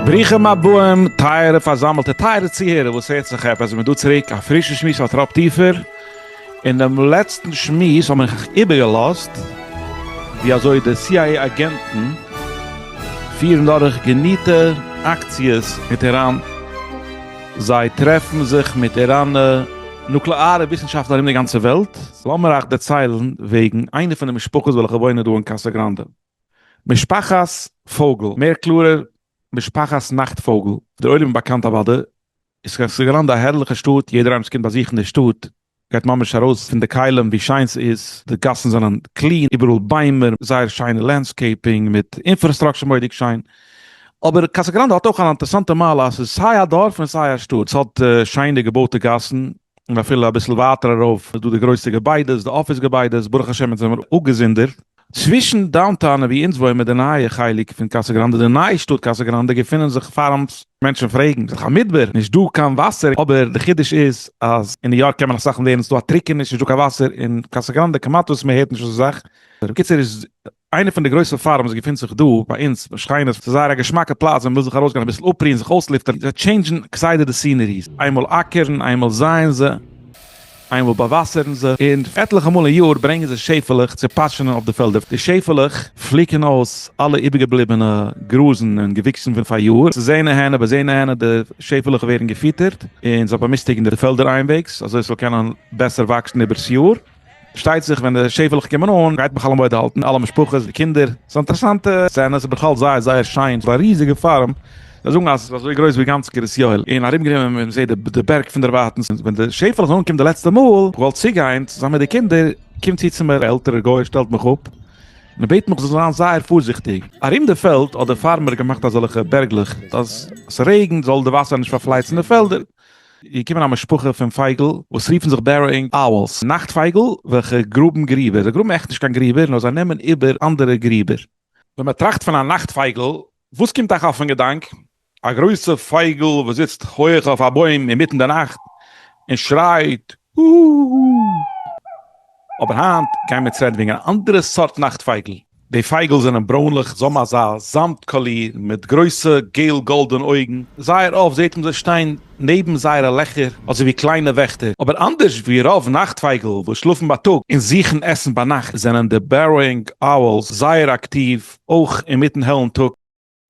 ברוכים הבאים טייערע פארזאמעלטע, טייערע צוהערער וואס הערט זיך עפעס, מ'דא צוריק א פרישע שמועס אויף טראפ טיפער, אין דעם לעצטן שמועס האב איך איבערגעלאזט ווי אזוי די סי איי עי אגענטן פירן דורך געניטע אקציעס מיט איראן, זיי טרעפן זיך מיט איראנע נוקלעארע וויסנשאפטלער ארום די גאנצע וועלט. לאמיר אייך דערציילן וועגן איינע פון די משפחות וועלכע וואוינען דא אין קאסא גראנדע. משפחת פויגל, מער קלארער, משפחת נאכט פויגל, דער עולם איז באקאנט אוודאי, איז קאסא גראנדע א הערליכע שטאט, יעדער איינער וואס קומט באזוכן די שטאט, גייט ממש ארויס פון די כלים ווי שיין ס'איז, די גאסן זענען קלין, איבעראל ביימער, זייער שיינע לענדסקעיפינג מיט אינפראסטראקשער מורא'דיג שיין. אבער קאסא גראנדע האט אויך אן אינטערעסאנטע מעלה אז ס'איז סיי א דארף און סיי א שטאט, ס'האט שיינע געבויטע גאסן, און אפילו אביסל ווייטער ארויף איז דא די גרויסע געביידעס, די אפיס געביידעס, ברוך השם יעצט זענען מיר אפגעזונדערט, צווישן דאונטאון ווי אונז וואוימען די נייע חלק פון קאסא גראנדע די נייע שטאט קאסא גראנדע געפונען זיך פארמס, מענטשן פרעגן זיך א מדבר, נישט דא קיין וואסער, אבער די חידוש איז אז אין ניו יארק קען מען אסאך און ווערן עס דא א טריקעניש נישט דא קיין וואסער אין קאסא גראנדע כמעט וואס מען הערט נישט אזא זאך, בקיצור איז איינע פון די גרויסע פארמס געפונט זיך דא ביי אונז בשכינות ס'איז זייער א געשמאקע פלאץ ווען מ'וויל זיך ארויסגיין אביסל אפרוען זיך אויסלופטערן זיי טשעינדזשן כסדר די סינעריס איינמאל אקערן איינמאל זייען זיי. איינמאל באוואסערן זיי און עטליכע מאל אין יאר ברענגען זיי שעפעלעך צו פאטשענען אויף די פעלדער. די שעפעלעך פליקען אויס אלע איבערגעבליבענע גראזן און געוויקסן פון פאריאר. ס'איז הנה הנה וואס הנה הנה, די שעפעלעך ווערן געפיטערט און זיי באמיסטיגן די פעלדער איינוועגס אזוי ס'זאל קענען בעסער וואקסן איבער'ס יאר. פארשטייט זיך ווען די שעפעלעך קומען אן גייט מיך אלעמויד האלטן, אלע משפחות, די קינדער. ס'איז א אינטערעסאנטע סצענע, ס'איז בכלל זייער זייער שיין, ס'איז א ריזיגע פארם. זיי זאגן אז עס איז אזוי גרויס ווי גאנץ קרית יואל, און ארום גענומען און מען זעט די בערג פון דערווייטענס, און ווען די שעפעלע איז אנגעקומען די לעצטע מאל, איך וואלט צוגיין צוזאמען מיט די קינדער, קומט צו צו מיר א עלטערער גוי און שטעלט מיך אפ, און ער בעט מיך איך זאל זיין זייער פארזיכטיג, ארום די פעלד האט דער פארמער געמאכט אזעלכע בערגלעך אז עס רעגנט זאל די וואסער נישט פארפלייצן די פעלדער, איז געקומען א משפחה פון פייגל וואס רופן זיך בערראינג אוולס, נאכט פייגל, וועלכע גראבן גריבער, זיי גראבן עכט נישט קיין גריבער נאר זיי נעמען איבער אנדערע גריבער. ווען מען טראכט פון א נאכט פייגל וואס קומט אייך אויפן געדאנק, א גרויסע פייגל וואס זיצט הויעך אויף א בוים אינמיטן די נאכט און שרייט הוהא. אבער היינט גייען מיר צו רעדן וועגן אן אנדערע סארט נאכט פייגל. די פייגל זענען ברוינליך, זיי האבן אזא זאמד קאליר, מיט גרויסע געל גאלדענע אויגן. זייער אפט זעט מען זיי שטיין נעבן זייערע לעכער אזוי ווי קליינע וועכטער. אבער אנדערש ווי רוב נאכט פייגל וואס שלאפן בייטאג און זוכן עסן ביינאכט, זענען די Burrowing Owls זייער אקטיוו אויך אין מיטן העלן טאג.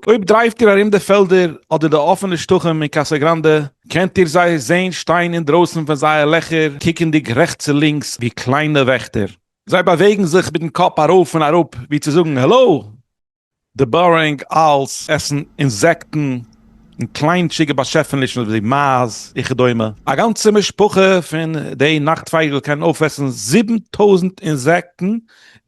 אויב דרייווט איר ארום די פעלדער אדער די אפענע שטחים אין קאסא גראנדע, קענט איר זיי זען שטיין אינדרויסן פון זייער לעכער קוקנדיג רעכטס און לינקס ווי קליינע וועכטער. זיי באוועגן זיך מיטן קאפ ארויף און אראפ ווי צו זאגן העלא! די בארינג אלס עסן אינזעקטן און קליינטשיגע באשעפענישן ווי מייז וכדומה. א גאנצע משפחה פון די נאכט פייגל קען אויפעסן זיבן טויזנט אינזעקטן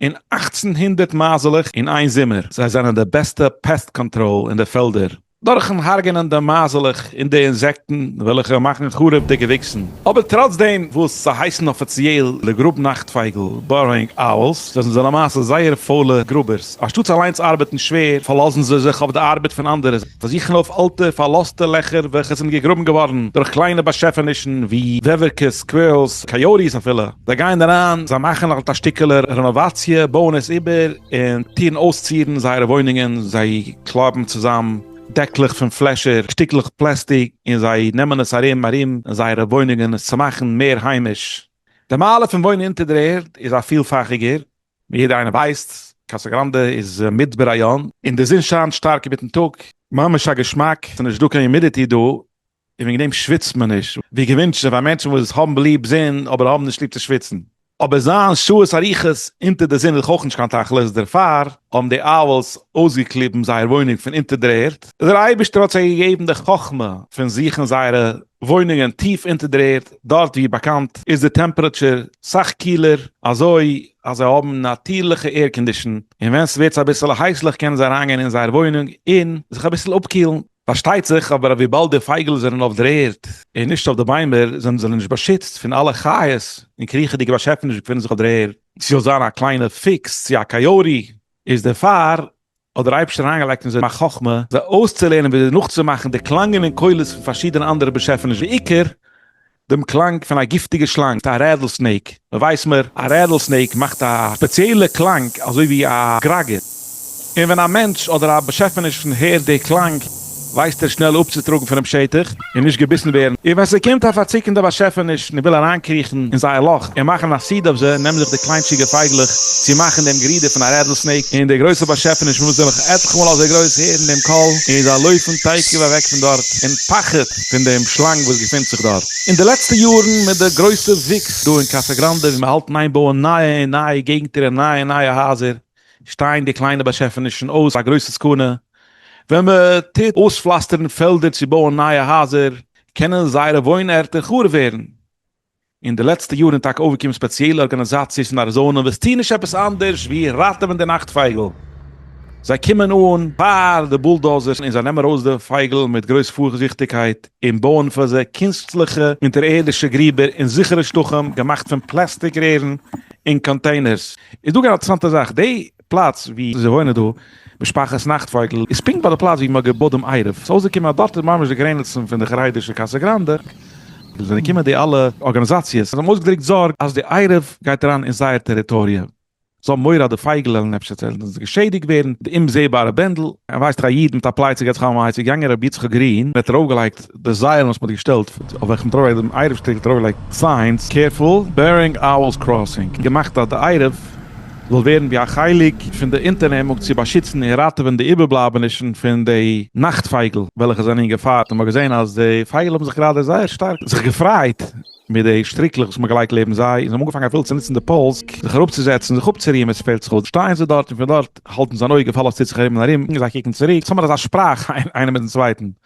אין אַכצן הונדערט מייזלעך אין איין זומער, זיי זיינען די בעסטע פעסט קאנטראל אין די פעלדער, דורכן הרג'נען די מייזלעך און די אינזעקטן וועלכע מאכן חרוב די געוויקסן, אבער טראץ דעם וואס זיי הייסן אפיציעל די גראב נאכטפייגל, Burrowing Owls, זיי זענען למעשה זייער פוילע גראבערס, אנשטאטס אליינס ארבעטן שווער פארלאזן זיי זיך אויף די ארבעט פון אנדערע. זיי זוכן אויף אלטע פארלאזטע לעכער וועלכע זענען געגראבן געווארן דורך קליינע באשעפענישן ווי וועווערקעס, סקווירלס, קאיאוטיס אפילו. זיי גייען אריין, זיי מאכן אלט א שטיקעלע רענאוואציע, בויען עס איבער, און טוען אויסצירן זייערע וואוינונגען, זיי קלייבן צוזאם דעקלעך פון פלעשער, שטיקלעך פלעסטיק, און זיי נעמען עס ארום ארום זייערע וואוינונגען עס צו מאכן מער היימיש. די מעלה פון וואוינען אונטער דער ערד איז א פילפאכיגער, ווי יעדער איינער ווייסט, קאסא גראנדע איז מיט בריון, און די זון שיינט שטארק אינמיטן טאג, ממש א געשמאק, ס'איז נישט דא קיין יומידיטי דא, און וועגן דעם שוויצט מען נישט, ווי געווינטשן פאר מענטשן וואס האבן ליב זון אבער האבן נישט ליב צו שוויצן. אבער זיין שעות אריכות אונטער די זון איז דאך אויך נישט קיין תכלית, דערפאר האבן די אוועלס אויסגעקליבן זייער וואוינונג פון אונטער דער ערד, דער אייבערשטער האט זיי געגעבן די חכמה פון זוכן זייערע וואוינונגען טיף אונטער דער ערד, דארט ווי באקאנט איז די טעמפרעטשער סאך קילער, אזוי אז זיי האבן נאטירליכע עירקאנדישן, און ווען ס'ווערט אביסעלע הייסליך קענען זיי אריינגיין אין זייער וואוינונג און זיך אביסל אפקילן. פארשטייט זיך אבער אז וויבאלד די פייגל זענען אויף דער ערד און נישט אויף די ביימער זענען זיי נישט באשיצט פון אלע חיות און קריכעדיגע באשעפענישן וואס געפינען זיך אויף דער ערד. ס'זאל זיין א קליינע פיקס צו א קאיאוטי איז דערפאר האט דער אייבערשטער אריינגעלייגט אין זיי א חכמה זיי אויסצולערנען וויאזוי נאכצומאכן די קלאנגען און קולות פון פארשידענע אנדערע באשעפעניש בעיקר דעם קלאנג פון א גיפטיגע שלאנג א רעדל סנעיק מען ווייסט מער א רעדל סנעיק מאכט א ספעציעלע קלאנג אזוי ווי א גראגער און ווען א מענטש אדער א באשעפעניש פון הערט די קלאנג ווייסט ער שנעל אפצוטראגן פונעם שטח און נישט געביסן ווערן, און ווען ס'קומט א פארציקענדע באשעפעניש און וויל אריינקריכן אין זייער לאך און מאכן א סיד אויף זיי, נעמען זיך די קליינטשיגע פייגלעך צו מאכן דעם גערודער פון א רעדל סנעיק, און די גרויסע באשעפעניש מוז נעבעך עטליכע מאל אזוי גרויס הערן דעם קול, און זיי לויפן תיכף אוועק פון דארט אין פחד פון דעם שלאנג וואס געפינט זיך דארט. אין די לעצטע יארן מיט די גרויסע וואוקס דא אין קאסא גראנדע ווי מיר האלטן איין בויען נייע און נייע געגנטער און נייע און נייע הייזער, שטייען די קליינע באשעפענישן אויס א גרויסע סכנה, ווען מען טוט אויספלאסטערן פעלדער צו בויען נייע הייזער, קענען זייערע וואוין ערטער חרוב ווערן. אין די לעצטע יארן איז טאקע אויפגעקומען ספעציעלע ארגאניזאציעס אין אריזאנע וואס טוהן נישט עפעס אנדערש ווי ראטעווען די נאכט פייגל. זיי קומען אן פאר די בולדאזערס און זיי נעמען ארויס די פייגל מיט גרויס פארזיכטיגקייט און בויען פאר זיי קונסטליכע אונטערערדישע גריבער און זיכערע שטחים געמאכט פון פלעסטיק רערן און קאנטעינערס. איז דא גאר אינטערעסאנטע זאך, די פלאץ ווי זיי וואוינען דא, משפחת נאכטפייגל, איז פונקט ביי די פלאץ ווי מ'האט געבאדט דעם עירוב, ס'איז אויסגעקומען אז דארט איז ממש די גרעניצן פון די חרדישע קאסא גראנדע, דא זענען געקומען די אלע ארגאניזאציעס, זיי האבן אויסגעדרוקט זארג אז די עירוב גייט אריין אין זייער טעריטאריע, זיי האבן מורא אז די פייגל וועלן אפשר צעלענדן, געשעדיגט ווערן, די אומזעבארע בענדל. ווייסט איר א איד מיט א פלייצע געטצעכאמאייציג יענגער רבי יצחק גרין ווערט ארויפגעלייגט. די זייעלן וואס מען האט געשטעלט אויף וועלכן מ'האט ארויפגעלייגט דעם עירוב שטיקל האט ארויפגעלייגט סיינס קערפול בערינג אוועלס קראסינג, געמאכט אז די עירוב זאל ווערן ווי א חלק פון די אונטערנעמונג צו באשיצן און ראטעווען די איבערבלייבענישן פון די נאכט פייגל וועלכע זענען אין געפאר, און מען האט געזען אז די פייגל האבן זיך גראדע זייער שטארק זיך געפריידט מיט די שטריקלעך וואס מען האט געלייגט לעבן זיי, און זיי האבן אנגעפאנגען אפילו צו נוצן די פאולס זיך אראפצוזעצן און זיך אפצורוהן ווען ס'פעלט זיך אויס, שטייען זיי דארט און פון דארט האלטן זיי אן אויג אויף אלעס טוט זיך ארום און ארום, און זיי קוקן צוריק, ס'איז אמאל אזא שפראך איינער מיטן צווייטן.